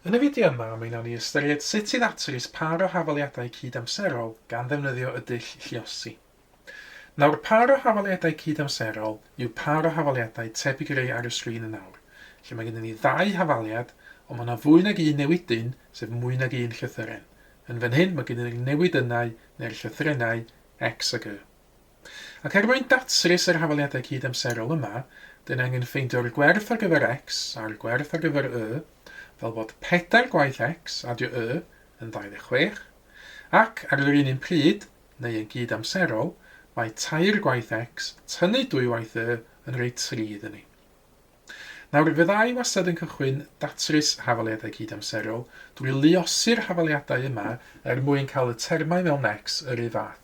Yn y fideo yma, mae nawn ni ystyried sut i ddatrys pâr o hafaliadau cyd-amserol gan ddefnyddio y dull lluosi. Nawr, pâr o hafaliadau cyd-amserol yw pâr o hafaliadau tebyg i'r rhai ar y sgrin yn awr, lle mae gennym ni ddau hafaliad, ond mae yna fwy nag un newidyn, sef mwy nag un llythyren. Yn fan hyn, mae gennym ni'r newidynnau, neu'r llythrennau, X ac Y. Ac er mwyn datrys yr hafaliadau cyd-amserol yma, dyn angen ffeindio'r gwerth ar gyfer X a'r gwerth ar gyfer Y, fel bod pedair gwaith X, adio Y, yn 26, ac, ar yr un un pryd, neu yn gyd-amserol, mae tair gwaith X, tynnu dwywaith Y, yn rhoi tri iddyn ni. Nawr, fydda i wastad yn cychwyn datrys hafaliadau cyd-amserol drwy luosi'r hafaliadau yma er mwyn cael y termau mewn X yr un fath.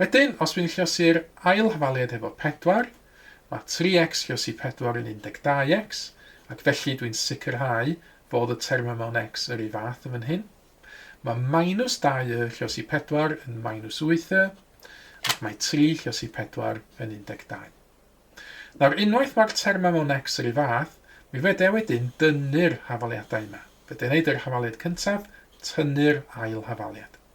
Wedyn, os dwi'n llosi'r ail hafaliad efo 4, mae 3x llosi 4 yn 12x, ac felly dwi'n sicrhau fod y term yma yn x yr un fath yn fan hyn. Mae minus 2y llosi 4 yn minus 8y, ac mae 3 llosi 4 yn 12. Nawr, unwaith mae'r term yma yn x yr un fath, mi fedra i wedyn dynnu'r hafaliadau yma. Fedra i wneud yr hafaliad cyntaf, tynnu'r ail hafaliad.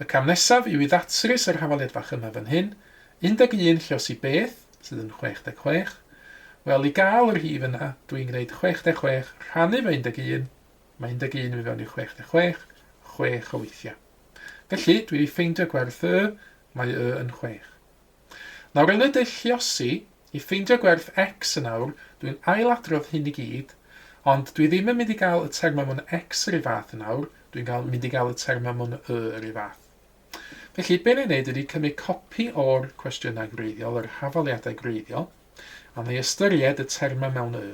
Y cam nesaf yw i ddatrys yr hafaliad fach yma fan hyn, 11 llews i beth sydd yn 66, wel, i gael yr rhif yna, dw i'n gwneud 66 rhannu fo 11, mae 11 yn mynd fewn i 66 chwech o weithiau. Felly, dwi 'di ffeindio gwerth Y, mae Y yn chwech. Nawr yn y dull lluosi, i ffeindio gwerth X yn awr, dwi'n ail-adrodd hyn i gyd, ond dwi ddim yn mynd i gael y termau mwn X yr un fath yn awr, dwi'n gael mynd i gael y termau mwn Y yr un fath. Felly, be na i wneud ydy cymryd copi o'r cwestiynau gwreiddiol, yr hafaliadau gwreiddiol, a na i ystyried y termau mewn Y.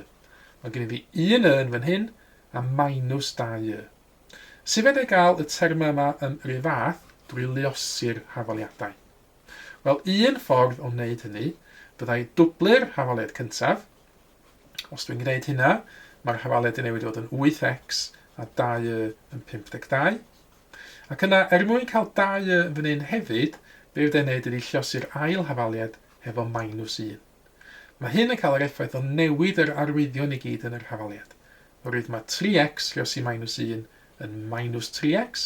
Mae gen i fi un Y yn fan hyn, a minus dau Y. Sut fedra i gael y termau yma yn yr un fath? Drwy luosi'r hafaliadau. Wel, un ffordd o wneud hynny fyddai dwblu'r hafaliad cyntaf. Os dwi'n gwneud hynna, mae'r hafaliad yn newid i fod yn 8x a 2y yn 52. Ac yna, er mwyn cael 2y yn fan hyn hefyd, be fydda i'n wneud ydy llosi'r ail hafaliad hefo minus 1. Mae hyn yn cael yr effaith o newid yr arwyddion i gyd yn yr hafaliad. Oherwydd mae 3x llosi minus 1 yn minus 3x,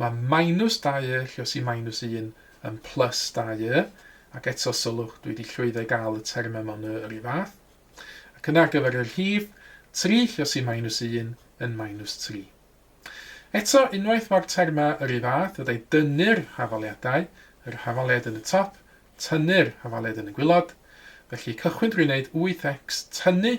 Mae minus 2y lluosi minus 1 yn plus 2y, ac eto sylwch, dwi wedi llwyddo i gael y termau mewn y yr un fath. Ac yna ar gyfer y rhif, 3 lluosi minus 1 yn minus 3. Eto, unwaith mae'r termau yr un fath, fydda i dynnu'r hafaliadau, yr hafaliad yn y top, tynnu'r hafaliad yn y gwilod. Felly cychwyn drwy wneud 8x tynnu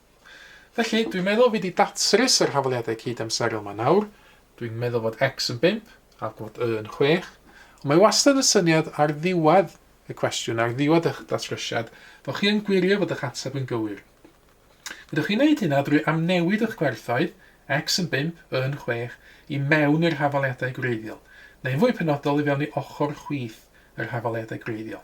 Felly, dwi'n meddwl fi 'di datrys yr hafaliadau cyd-amserol 'ma nawr. Dwi'n meddwl fod X yn bump, a bod Y yn chwech. Ond mae wastad y syniad ar ddiwedd y cwestiwn, ar ddiwedd eich datrysiad, fod chi yn gwirio fod eich ateb yn gywir. Fyddwch chi'n neud hynna drwy amnewid eich gwerthoedd, X yn bump, Y yn chwech, i mewn i'r hafaliadau gwreiddiol, neu'n fwy penodol i fewn i ochr chwith yr hafaliadau gwreiddiol.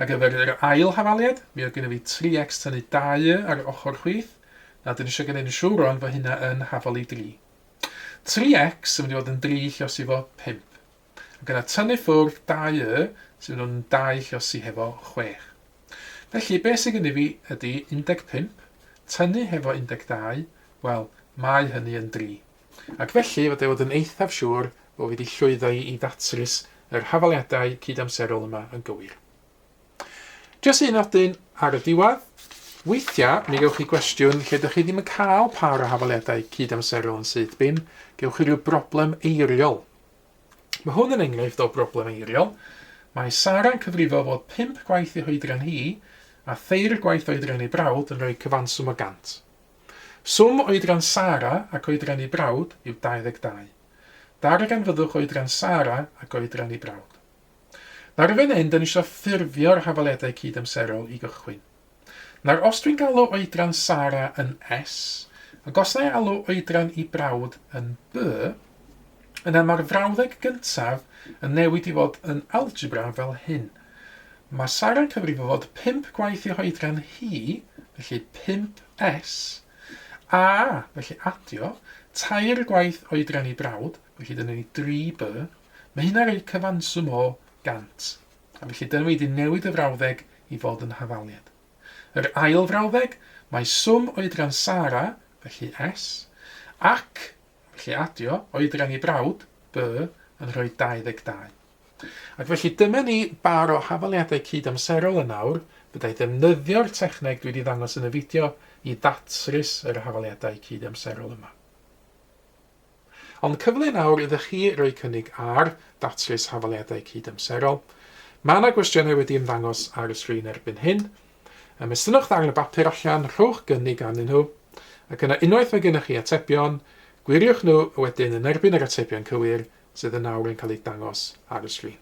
Ar gyfer yr ail hafaliad, mi oedd gynna fi tri ecs tynnu dau y ar ochr chwith, na dyn isio gneud yn siwr rwan fo hynna yn hafali dri. Tri ecs yn mynd i fod yn dri llosi fo pump. Ac yna tynnu ffwrdd dau y sy'n mynd yn dau llosi hefo chwech. Felly be sy'n gynnu fi ydy 15, tynnu hefo 12, wel, mae hynny yn dri. ac felly fod e fod yn eithaf siŵr fod wedi llwyddo i i ddatrys yr hafaliadau cyd-amserol yma yn gywir. Jyst un nodyn ar y diwedd, weithiau mi gewch chi gwestiwn lle dych chi ddim yn cael pa o'r hafaliadau cyd-amserol yn syth bin, gewch chi rhyw broblem eiriol. Mae hwn yn enghraifft o broblem eiriol. Mae Sara'n cyfrifo fod pump gwaith ei hoedran hi a thair gwaith oedran ei brawd yn rhoi cyfanswm o gant. Swm oedran Sara ac oedran ei brawd yw 22. Darganfyddwch oedran Sara ac oedran ei brawd. Nawr yn fan hyn, dan ni eisiau ffurfio'r hafaledau cyd-amserol i gychwyn. Nawr, os dwi'n galw oedran Sara yn S, ac os na i alw oedran ei brawd yn B, yna mae'r frawddeg gyntaf yn newid i fod yn algebra fel hyn. Mae Sara'n cyfrifo fod pump gwaith i'w hoedran hi, felly 5S, a, felly adio, tair gwaith oedran ei brawd, felly dyna ni 3B, mae hynna'n rhoi cyfanswm o 100. A felly dyna fi wedi newid y frawddeg i fod yn hafaliad. Yr ail frawddeg, mae swm oedran Sara, felly S, ac, felly adio, oedran ei brawd, B, yn rhoi 22. Ac felly, dyma ni bar o hafaliadau cyd-amserol yn awr, fydda i ddefnyddio'r techneg dwi 'di ddangos yn y fideo i ddatrys yr hafaliadau cyd-amserol yma. Ond cyfle yn awr iddo chi roi cynnig ar ddatrys hafaliadau cyd-amserol. Mae yna gwestiynau wedi ymddangos ar y sgrin erbyn hyn. Ymestynwch ddarn o bapur allan, rhowch gynnig arnyn nhw, ac yna unwaith mae gennych chi atebion, gwiriwch nhw wedyn yn erbyn yr atebion cywir sydd yn awr yn cael eu dangos ar y sgrin.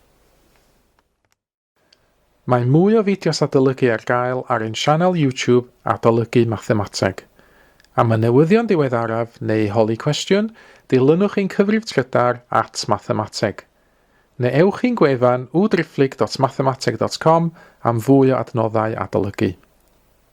Mae mwy o fideos adolygu ar gael ar ein sianel YouTube Adolygu Mathemateg. Am y newyddion diweddaraf neu holi cwestiwn, dilynwch ein cyfrif trydar at Mathemateg. Neu ewch i'n gwefan www.driphlyg.mathemateg.com am fwy o adnoddau adolygu.